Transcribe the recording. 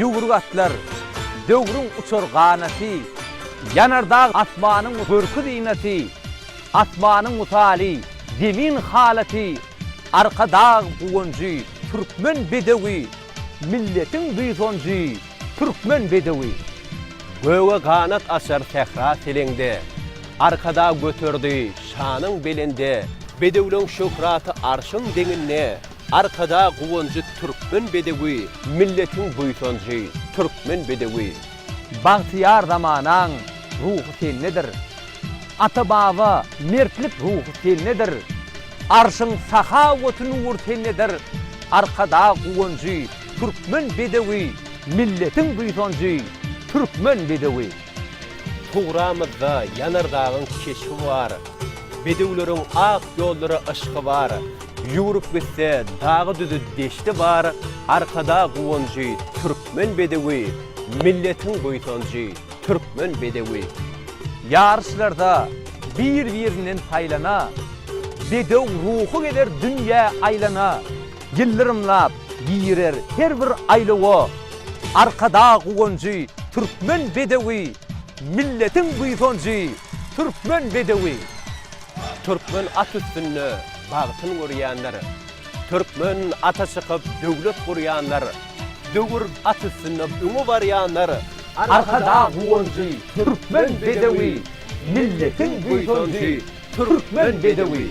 Ýüwrük atlar, döwrüň uçar ganaty, Ýanar dag asmanyň görki-zynaty, Asmanyň mysaly, zemin halaty, Arkadag guwanjy, türkmen bedewi, Milletiň buýsanjy, türkmen bedewi. Göge ganat açar sähra seleňde. Arkadag göterdi şanyň belende. Bedewleň şöhraty arşyň deňinde. Arkadag guwanjy türkmen bedewi. Milletiň buýsanjy, türkmen bedewi. Bagtyýar zamanaň ruhy sendedir. Ata-baba mertlik ruhy sendedir. Arşyň sahawaty nury sendedir. Arkadag guwanjy, türkmen bedewi, Milletiň buýsanjy, türkmen bedewi. Tugramyzda ýanar dagyň keşbi bar, Bedewleriň ak ýollara yşky bar. Ýüwrüp gitse dagy-düzi deşti bar, Arkadag guwanjy, türkmen. Türkmen bedewi, milletiň buýsanjy, Türkmen bedewi. Ýaryşlarda bir-birinden saýlana, Bedew ruhy gezer dünýä aýlana. Ýyldyrymlap girer her bir aýlawa, Arkadag guwanjy, Türkmen bedewi, Milletiň buýsanjy, Türkmen bedewi. Türkmen at üstünde bagtyn görýänler, Türkmen ata çykyp döwlet gurýanlar. Döwür at üstünde öňe barýanlar. Arkadag guwanjy, türkmen bedewi, Milletiň buýsanjy, türkmen bedewi.